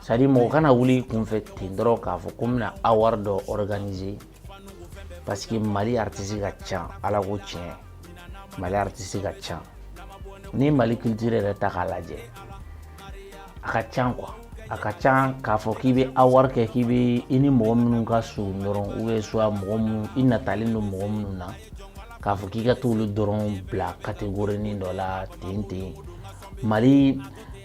c'est-à-dire mɔgɔ kana wuli kunfɛ ten dɔrɔn k'a fɔ ko n bɛna awari dɔ organiser parce que mali artisi ka ca ala ko tiɲɛ mali artisi ka ca n'i mali culture yɛrɛ ta k'a lajɛ a ka ca quoi a ka ca k'a fɔ k'i bɛ awari kɛ k'i bɛ i ni mɔgɔ minnu ka surun dɔrɔn ou bien soit mɔgɔ minnu i natalen don mɔgɔ minnu na k'a fɔ k'i ka t'olu dɔrɔn bila kategorinin dɔ la ten ten mali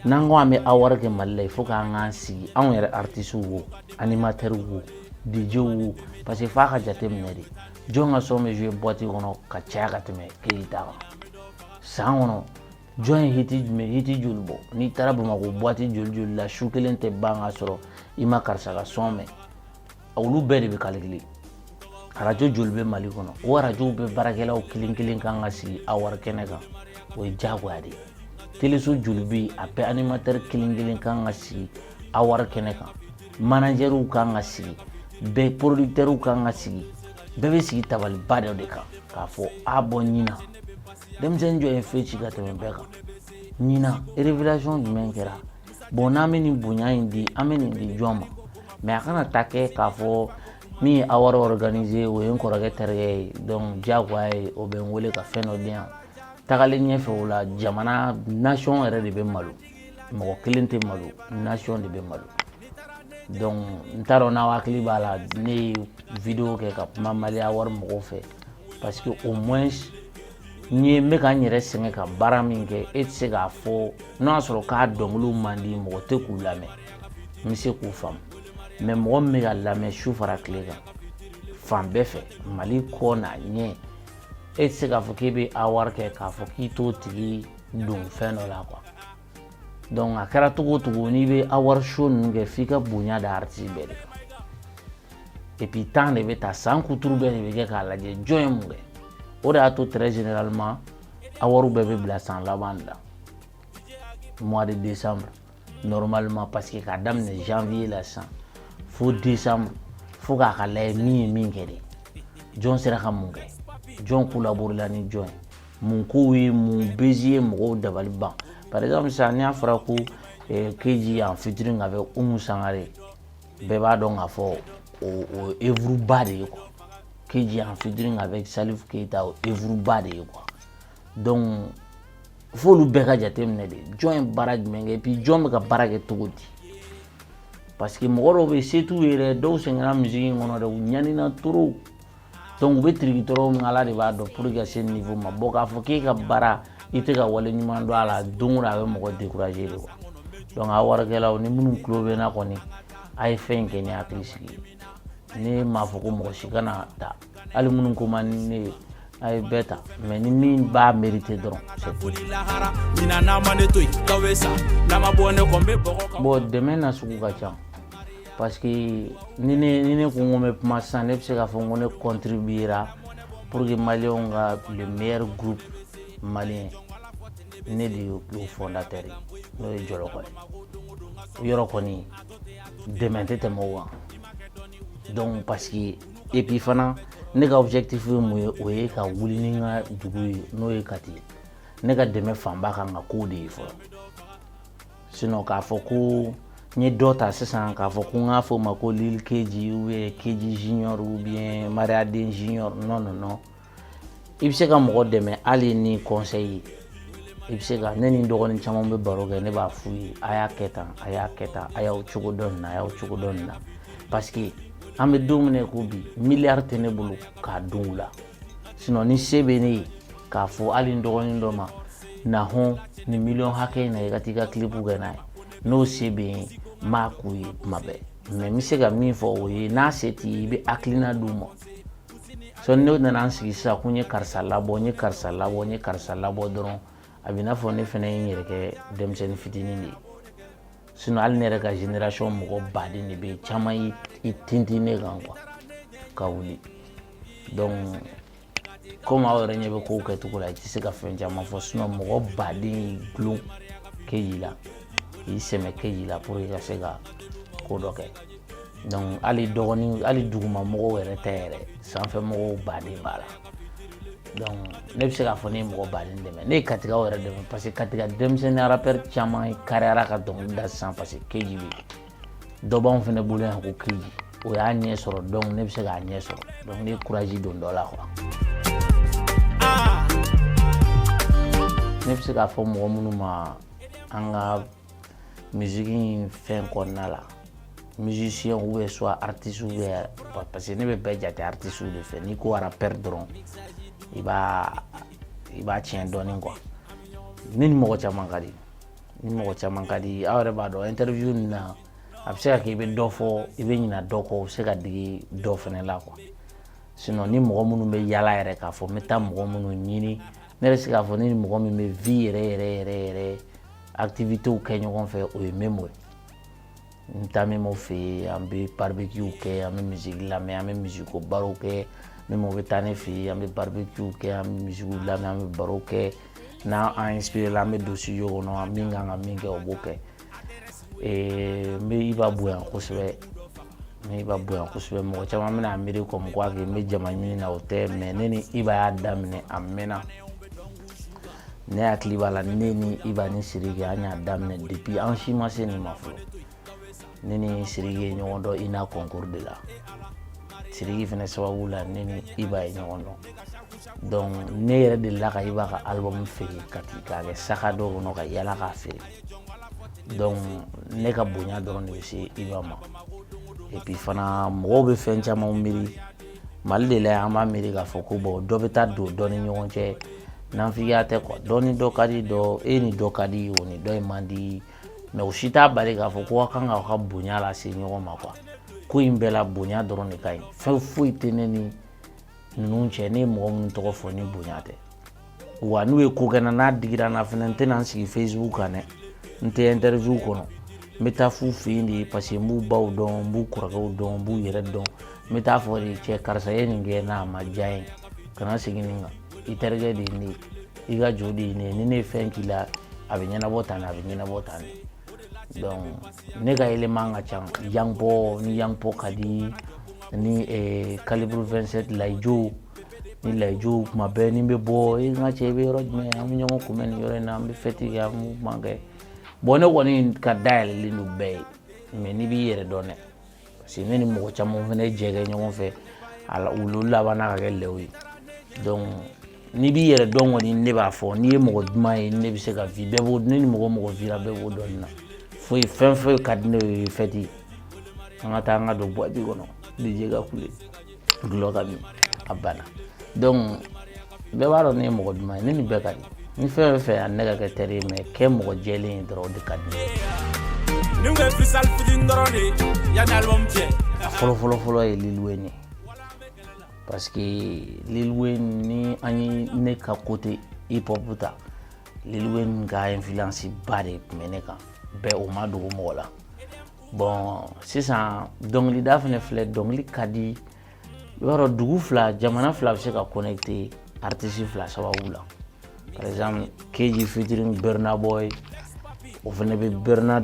n'an ko an bɛ awari kɛ mali la il faut k'an k'an sigi anw yɛrɛ artisiw wo animatɛriw wo dj wo parce que f'a ka jate minɛ de jɔn ka son bɛ jouer boite kɔnɔ ka caya ka tɛmɛ kelen ta kan san kɔnɔ jɔn ye hiti joli bɔ n'i taara bamakɔ boite joli joli la su kelen tɛ ban ka sɔrɔ i ma karisa ka son mɛn olu bɛɛ de bɛ kalikili arajo joli bɛ mali kɔnɔ o arajow bɛɛ baarakɛlaw kelen kelen kan ka sigi awari kɛnɛ kan o ye diyagoya de ye teleso joli bɛ yen a bɛɛ animatɛri kelen kelen kan ka sigi awari kɛnɛ kan manajɛriw kan ka sigi bɛɛ porodikitɛriw kan ka sigi bɛɛ bɛ sigi tabaliba dɔ de kan k'a fɔ ah bon ɲinan denmisɛnnin jɔn ye fɛn ci ka tɛmɛ bɛɛ kan ɲinan révélation jumɛn kɛra bon n'an bɛ nin bonya in di an bɛ nin di jɔn ma mais a kana ta kɛ k'a fɔ min ye awari organiser o ye n kɔrɔkɛ terikɛ ye donc diyagoya ye o bɛ n wele ka fɛn dɔ di yan tagalen ɲɛfɛ o la jamana nation yɛrɛ de bɛ malo mɔgɔ kelen tɛ malo nation de bɛ malo donc n t'a dɔn n'aw hakili b'a la ne ye video kɛ ka kuma mali awari mɔgɔw fɛ parce que au moins n'i ye n bɛ ka n yɛrɛ sɛgɛn ka baara min kɛ e tɛ se k'a fɔ n'o y'a sɔrɔ k'a dɔnkiliw man di mɔgɔ tɛ k'u lamɛn n bɛ se k'o faamu mais mɔgɔ min bɛ ka lamɛn su fara tile kan fan bɛɛ fɛ mali kɔ n'a ɲɛ e tɛ se k'a fɔ k'e bɛ awari kɛ k'a fɔ k'i t'o tigi don fɛn dɔ la quoi donc a kɛra cogo o cogo n'i bɛ awari show ninnu kɛ f'i ka bonya da aritisi bɛɛ de kan et puis temps de bɛ ta san kuturu bɛɛ de bɛ kɛ k'a lajɛ jɔn ye mun kɛ o de y'a to très généralement awariw bɛɛ bɛ bila san laban de la mois de décembre normalement parce que k'a daminɛ janvier la sisan fo décembre fo k'a ka lajɛ min ye min kɛ de jɔn sera ka mun kɛ jɔn kolaborela ni jɔn ye Mun ko ye mun buzz ye mɔgɔw dabali ban par exemple sisan n'a fɔra ko keji en featuring avec umu sangare bɛɛ b'a dɔn k'a fɔ o ye œuvre ba de ye quoi keji en featuring avec salifu keyita o ye œuvre ba de ye quoi donc fo bɛɛ ka jate minɛ de jɔn ye baara jumɛn kɛ puis jɔn bɛ ka baara kɛ cogo di parce que mɔgɔ dɔw bɛ surtout yɛrɛ dɔw sɛgɛnna musique in kɔnɔ de ɲanina trop donc u bɛ tiriki tɔɔrɔ min ala de b'a dɔn pour que ka se niveau ma bon k'a fɔ k'e ka baara i tɛ ka waleɲuman dɔn a la don o don a bɛ mɔgɔ décourager de quoi donc award kɛlaw ni minnu tulo bɛ n na kɔni a ye fɛn in kɛ ni hakili sigi ye ne m'a fɔ ko mɔgɔ si kana ta hali minnu ko man di ne ye a ye bɛɛ ta mais ni min b'a mériter dɔrɔn c'est tout bon dɛmɛ na sugu ka ca parce que ni ne ni ne ko n ko n bɛ kuma sisan ne bɛ se k'a fɔ n ko ne contribuera pour que maliyɛnw ka le meilleur groupe malien ne de y'o fondateur ye n'o ye jɔlɔkɔ ye o yɔrɔ kɔni dɛmɛ tɛ tɛmɛ o kan donc parce que et puis fana ne ka objectif ye mun ye o ye ka wuli ni n ka dugu ye n'o ye kati ye ne ka dɛmɛ fanba kan ka kow de ye fɔlɔ sinɔn k'a fɔ ko n ye dɔ ta sisan k'a fɔ ko n k'a fɔ o ma ko lil keji ubiyɛn keji junior ubiyɛn mariyaden junior nɔn nɔn nɔn i bɛ se ka mɔgɔ dɛmɛ hali ni kɔnsɛyi ye i bɛ se ka ne ni n dɔgɔnin caman bɛ baro kɛ ne b'a f'u ye a y'a kɛ tan a y'a kɛ tan a y'aw cogo dɔn nin na a y'aw cogo dɔn nin na paseke an bɛ don min na i ko bi miliyari tɛ ne bolo k'a don u la sinɔn ni se bɛ ne ye k'a fɔ hali n dɔgɔnin dɔ ma na hɔn nin miliyɔn hakɛ in na i ka t'i ka kilipu kɛ n'a ye n'o se bɛ yen n b'a k'u ye u maa bɛɛ mɛ n bɛ se ka min fɔ o ye n'a se t'i ye i bɛ hakilina d'u ma sɔn ne nana n sigi sisan ko n ye karisa labɔ n ye karisa labɔ n ye karisa labɔ dɔrɔn a bɛ n'a fɔ ne fana ye n yɛrɛ kɛ denmisɛnnin fitinin de ye sinɔn hali ne yɛrɛ ka generasɔn mɔgɔ baden de bɛ yen caman ye i tintin ne kan kuwa ka wuli dɔnku komi aw yɛrɛ ɲɛ bɛ kow kɛcogo la i tɛ se ka fɛn caman fɔ sinɔn mɔgɔ baden y'i gulon keji la k'i sɛmɛ keji la pour que ka se ka ko dɔ kɛ dɔnku hali duguma mɔgɔw yɛrɛ tɛ yɛrɛ sanfɛ mɔgɔw baden b'a la donc ne bɛ se k'a fɔ ne ye mɔgɔ baden dɛmɛ ne ye katigaw yɛrɛ dɛmɛ parce que katiga denmisɛnnin rappeur caman ye kariyara ka dɔnkili da sisan parce que keji bɛ dɔ b'anw fana bolo yan ko keji o y'a ɲɛ sɔrɔ donc ne bɛ se k'a ɲɛ sɔrɔ donc ne ye courage don dɔ la quoi ne bɛ se k'a fɔ mɔgɔ minnu ma an ka miziki in fɛn kɔnɔna la musicien ou bien soit artiste ou bien parce que ne bɛ bɛɛ jate artiste de fɛ n'i ko rappeur dɔrɔn i b'a i b'a tiɲɛ dɔɔnin quoi ne ni mɔgɔ caman ka di ni mɔgɔ caman ka di aw yɛrɛ b'a dɔn interview nin na a bɛ se ka kɛ i bɛ dɔ fɔ i bɛ ɲina dɔ kɔ o bɛ se ka digi dɔ fana la quoi sinon ni mɔgɔ minnu bɛ yaala yɛrɛ k'a fɔ n bɛ taa mɔgɔ minnu ɲini ne yɛrɛ se k'a fɔ ne ni mɔgɔ min bɛ vie yɛrɛ yɛrɛ yɛrɛ yɛrɛ activités kɛ ɲɔgɔn fɛ o ye memo ye n taa memo fɛ yen an bɛ barbecue kɛ an bɛ musique lamɛn an bɛ musique barow kɛ memo bɛ taa ne fɛ yen an bɛ barbecue kɛ an bɛ musique lamɛn an bɛ baro kɛ n'an an inspiré la an bɛ don studio kɔnɔ min kan ka min kɛ o b'o kɛ ee n bɛ iba bonya kosɛbɛ n bɛ iba bonya kosɛbɛ mɔgɔ caman bɛna a miiri comme quoi que n bɛ jama ɲini na o tɛ mais ne ni iba y'a daminɛ a mɛnna ne hakili b'a la ne ni iba ni sidiki an y'a daminɛ depuis an si ma se nin ma fɔlɔ ne ni sidiki ye ɲɔgɔn dɔn ina concours de la sidiki fana sababu la ne ni iba ye ɲɔgɔn dɔn donc ne yɛrɛ delila ka iba ka album feere k'a ta k'a kɛ saka dɔ kɔnɔ ka yaala k'a feere donc ne ka bonya dɔrɔn de bɛ se iba ma et puis fana mɔgɔw bɛ fɛn caman miiri mali de la yan an b'a miiri k'a fɔ ko bon dɔ bɛ taa don dɔ ni ɲɔgɔn cɛ nanfigiya tɛ quoi dɔ ni dɔ ka di dɔ e ni dɔ ka di o ni dɔ in man di mais o si t'a bali k'a fɔ ko aw kan k'aw ka bonya lase ɲɔgɔn ma quoi ko in bɛɛ la bonya dɔrɔn de ka ɲi fɛn foyi tɛ ne ni ninnu cɛ ne ye mɔgɔ minnu tɔgɔ fɔ ni bonya tɛ wa n'u ye ko kɛ n na n'a digira n na fana n tɛna n sigi facebook kan dɛ n tɛ interview kɔnɔ n bɛ taa f'u fɛ yen de parce que n b'u baw dɔn n b'u kɔrɔkɛw dɔn n b'u yɛrɛ dɔn n bɛ taa fɔ de cɛ karisa ye nin kɛ n'a ma diya n ye kana segin nin kan i terikɛ de ye ne ye i ka jo de ye ne ye ni ne ye fɛn k'i la a bɛ ɲɛnabɔ tan de a bɛ ɲɛnabɔ tan de donc ne ka élément ka ca young pô ni young pô ka di ni eh, calibre 27 laye djo ni laye djo kuma bɛɛ ni n bɛ bɔ n ka cɛ i bɛ yɔrɔ jumɛn an bɛ ɲɔgɔn kunbɛn nin yɔrɔ in na an bɛ fête kɛ an bɛ kuma kɛ bon ne kɔni ka da yɛlɛlen don bɛɛ ye mais n'i b'i yɛrɛ dɔn dɛ parce que ne ni mɔgɔ caman fana ye jɛ kɛ ɲɔgɔn fɛ ala olu labanna ka kɛ lɛw ye donc n'i b'i yɛrɛ dɔn kɔni ne b'a fɔ n'i ye mɔgɔ duman ye ne bɛ se ka vi bɛɛ b'o ne ni mɔgɔ mɔgɔ vira bɛɛ b'o dɔn nin na foyi fɛn foyi ka di ne ye fête an ka taa an ka don boîte kɔnɔ dj ka kule dɔlɔ ka min a banna donc bɛɛ b'a dɔn ne ye mɔgɔ duman ye ne ni bɛɛ ka di ni fɛn bɛ fɛ yan ne ka kɛ teri ye mais kɛ mɔgɔ jɛlen ye dɔrɔn o de ka di ne ko freestyle fitinin dɔrɔn de yanni album cɛ a fɔlɔ fɔlɔ fɔlɔ ye lil wayne ye parce que lil wayne ni an ye ne ka côté hip hop ta lil wayne ka influence ba de tun bɛ ne kan bɛɛ o ma dogo mɔgɔ la bon sisan dɔnkilida fana filɛ dɔnkili ka di i b'a dɔn dugu fila jamana fila bɛ se ka connecter artisi fila sababu la par exemple keji featuring burna boy o fana bɛ burna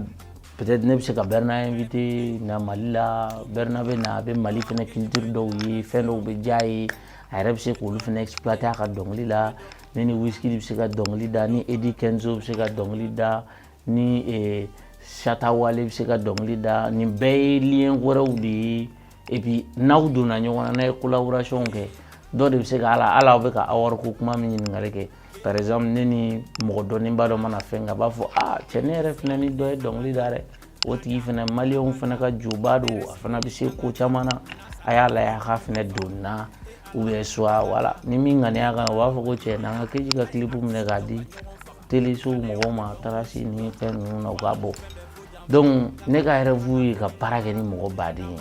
peut-être ne bɛ se ka burna inviter na mali la burna bɛ na a bɛ mali fana culture dɔw ye fɛn dɔw bɛ diya ye a yɛrɛ bɛ se k'olu fana exploiter a ka dɔnkili la ne ni wizkid bɛ se ka dɔnkili da ni eddy kenzo bɛ se ka dɔnkili da ni eh, shatta wale bɛ se ka dɔnkili da nin bɛɛ ye lien wɛrɛw de ye et puis n'aw donna ɲɔgɔn na n'a ye collaboration kɛ dɔ de bɛ se ka ala ala aw bɛ ka award ko kuma min ɲininkali kɛ par exemple ne ni mɔgɔ dɔnnenba dɔ mana fɛn kɛ a b'a fɔ aa cɛ ne yɛrɛ fana ni dɔ ye dɔnkili da dɛ o tigi fana maliyɛnw fana ka joba don a fana bɛ se ko caman na a y'a lajɛ a ka fana don na ou bien soit voilà ni min ŋaniya ka ɲi o b'a fɔ ko cɛ n'an ka keji ka kilipu minɛ k'a di telesow mɔgɔw ma trace ni fɛn ninnu na u ka bɔ donc ne ka rêve ye ka baara kɛ ni mɔgɔ baden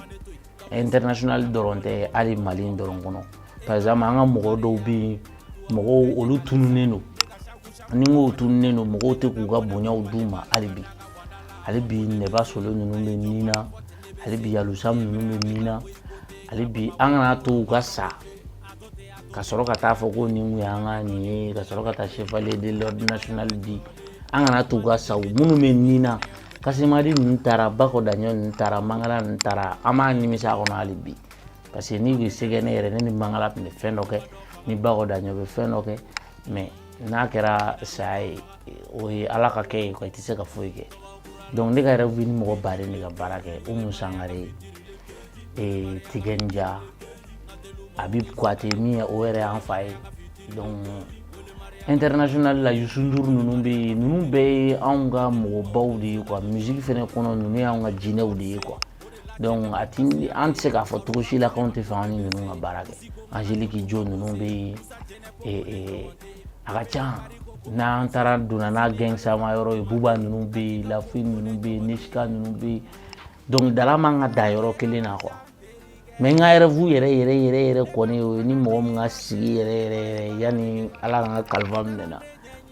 ye international dɔrɔn tɛ hali mali dɔrɔn kɔnɔ par exemple an ka mɔgɔ dɔw bɛ yen mɔgɔw olu tununnen don ni n k'u tununnen don mɔgɔw tɛ k'u ka bonyaw d'u ma hali bi hali bi nɛba solo ninnu bɛ min na hali bi alu sam ninnu bɛ min na hali bi an kana to u ka sa ka sɔrɔ ka taa fɔ ko nin tun y'an ka nin ye ka sɔrɔ ka taa chevalier de l'ordre national di an kana to u ka sa minnu bɛ nin na kasemadi ninnu taara bako daɲɔn ninnu taara mangala ninnu taara an b'a nimisa a kɔnɔ hali bi parce que ni kun bɛ se ka kɛ ne yɛrɛ ne ni mangala tun bɛ fɛn dɔ kɛ ni bako daɲɔn bɛ fɛn dɔ kɛ mais n'a kɛra saya ye o ye ala ka kɛ ye i tɛ se ka foyi kɛ donc ne ka yɛrɛ bɛ ni mɔgɔ baden de ka baara kɛ umu sangare ye ee Tiken Jah Habib Koité min ye o yɛrɛ y'an fa ye donc international la Youssou Ndour ninnu bɛ yen ninnu bɛɛ ye anw ka mɔgɔbaw de ye quoi musique fana kɔnɔ ninnu y'anw ka jinɛw de ye quoi donc a ti an tɛ se k'a fɔ cogo si la k'anw tɛ fɛ an ni ninnu ka baara kɛ Angélique Kidjo ninnu bɛ yen ee ee a ka ca n'an taara donna n'a gangstama yɔrɔ ye Booba ninnu bɛ yen La Fouine ninnu bɛ yen Niska ninnu bɛ yen dɔnkilidala man ka dan yɔrɔ kelen na quoi mais n ka rêve yɛrɛ yɛrɛ yɛrɛ yɛrɛ kɔni o ye ni mɔgɔ min ka sigi yɛrɛ yɛrɛ yɛrɛ yanni ala ka n ka kalifa minɛ n na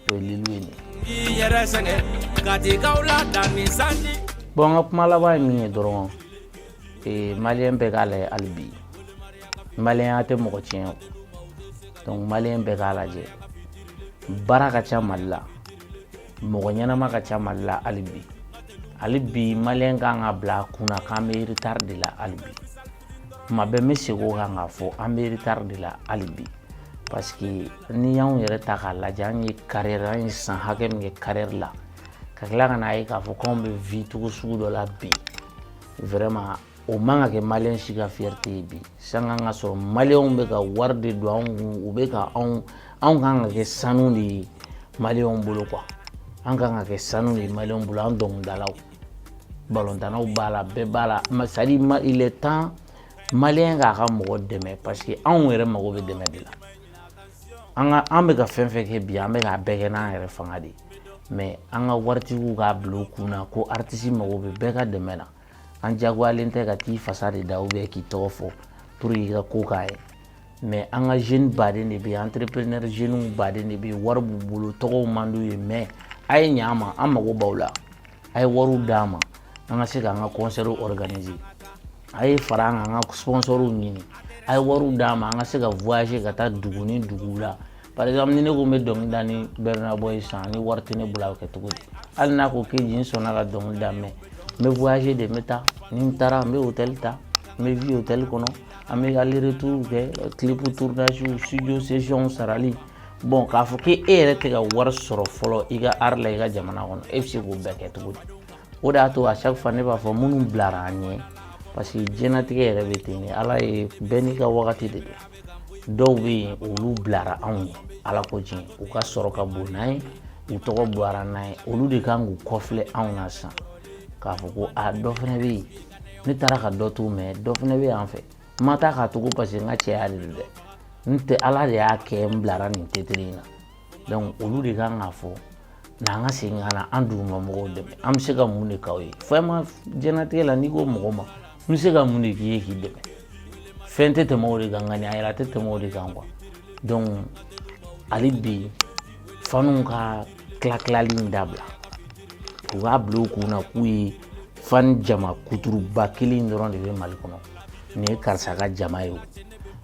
o ye lil wayne ye bon n ka kuma laban ye min ye dɔrɔn ee, maliyɛn bɛɛ k'a lajɛ hali bi maliyɛnya tɛ mɔgɔ tiɲɛ o donc maliyɛn bɛɛ k'a lajɛ baara ka ca mali la mɔgɔ ɲɛnama ka ca mali la hali bi hali bi maliyɛn kan k'a bila a kun na k'an bɛ retard de la hali bi kuma bɛɛ n bɛ segin o kan k'a fɔ an bɛ retard de la hali bi parce que n'i y'anw yɛrɛ ta k'a lajɛ an ye carrière an ye san hakɛ min kɛ carrière la ka tila ka n'a ye k'a fɔ k'anw bɛ vie cogo sugu dɔ la bi vraiment o man ka kɛ maliyɛn si ka fierté ye bi sanga ka sɔrɔ maliyɛnw bɛ ka wari de don anw kun u bɛ ka anw anw kan ka kɛ sanu de ye maliyɛnw bolo quoi an kan ka kɛ sanu de ye maliyɛnw bolo an dɔnkilidalaw balontannaw b'a la bɛɛ b'a la c'est à dire il est temps maliyɛn k'a ka mɔgɔ dɛmɛ parce que anw yɛrɛ mago bɛ dɛmɛ de la an ka an bɛ ka fɛn fɛn kɛ bi an bɛ k'a bɛɛ kɛ n'an yɛrɛ fanga de ye mais an ka waritigiw k'a bila u kun na ko artiste mago bɛ bɛɛ ka dɛmɛ na an jagoyalen tɛ ka t'i fasa de da ou bien k'i tɔgɔ fɔ pour que i ka ko k'a ye mais an ka jeune baden de bɛ yen entrepreneur jeunew baden de bɛ yen wari b'u bolo tɔgɔw man d'u ye mais a ye ɲa an ma an mago b'aw la a ye wariw d'an ma an ka se k'an ka concert organiser a ye fara an kan an ka sponsorw ɲini a ye wariw d'an ma an ka se ka voyager ka taa dugu ni duguw la par exemple ni ne ko n bɛ dɔnkili da ni burna boy ye sisan ni wari tɛ ne bolo a bɛ kɛ cogo di hali n'a ko ok n sɔnna ka dɔnkili da mais n bɛ voyager de n bɛ taa ni n taara n bɛ hôtel ta n bɛ vie hôtel kɔnɔ an bɛ aller retour kɛ clip tournage studio session sarali bon k'a fɔ k'e yɛrɛ tɛ ka wari sɔrɔ fɔlɔ i ka art la i ka jamana kɔnɔ e bɛ se k'o bɛɛ kɛ cogo di o de y'a to à chaque fois ne b'a fɔ minnu bilara an ɲɛ parce que diɲɛlatigɛ yɛrɛ bɛ ten de ala ye bɛɛ n'i ka wagati de don dɔw bɛ yen olu bilara anw ɲɛ ala ko tiɲɛ u ka sɔrɔ ka bon n'an ye u tɔgɔ bɔra n'an ye olu de kan k'u kɔfilɛ anw na sisan k'a fɔ ko a dɔ fana bɛ yen ne taara ka dɔ to mais dɔ fana bɛ yan fɛ n ma taa k'a to ko parce que n ka cɛya de don dɛ n tɛ ala de y'a kɛ n bilara nin titre in na donc olu de kan k'a fɔ n'an ka segin ka na an duguma mɔgɔw dɛmɛ an bɛ se ka mun de k'aw ye vraiment diɲɛnatigɛ la n'i ko mɔgɔ ma n bɛ se ka mun de k'i ye k'i dɛmɛ fɛn tɛ tɛmɛ o de kan ŋaniya yɛrɛ a tɛ tɛmɛ o de kan quoi donc hali bi fanw ka tila tilali in dabila u k'a bila u kun na k'u ye fan jama kuturuba kelen dɔrɔn de bɛ mali kɔnɔ nin ye karisa ka jama ye o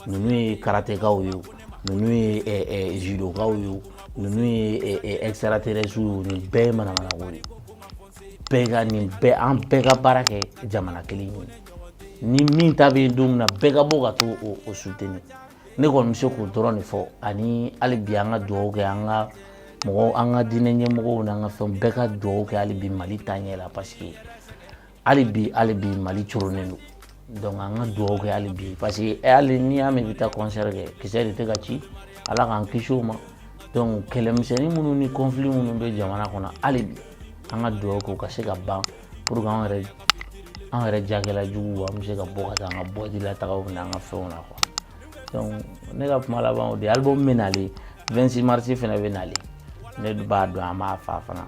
ninnu ye karatekaw ye o ninnu ye judokaw ye o ninnu ye extraterrestrew ye o nin bɛɛ ye manamanako de ye an bɛɛ ka baara kɛ jamana kelen ye ni min ta bɛ don min na bɛɛ ka bɔ ka t'o soutenir ne kɔni bɛ se k'o dɔrɔn de fɔ ani hali bi an ka dugawu kɛ an ka mɔgɔw an ka diinɛ ɲɛmɔgɔw n'an ka fɛn bɛɛ ka dugawu kɛ hali bi mali taaɲɛ la parce que hali bi hali bi mali coronnen don donc an ka dugawu kɛ hali bi parce que eh, hali n'i y'a mɛn i bɛ taa concert kɛ kisɛ de tɛ ka ci ala k'an kisi o ma donc kɛlɛmisɛnnin minnu ni conflit minnu bɛ jamana kɔnɔ hali bi an ka dugawu kɛ u ka se ka ban pour que an yɛrɛ an yɛrɛ jagɛla juguw an bɛ se ka bɔ ka taa an ka boîte la tagaw n'an ka fɛnw na quoi donc ne ka kuma laban o de ye album bɛ nalen 26 mars fana bɛ nalen ne b'a dɔn an b'a fa fana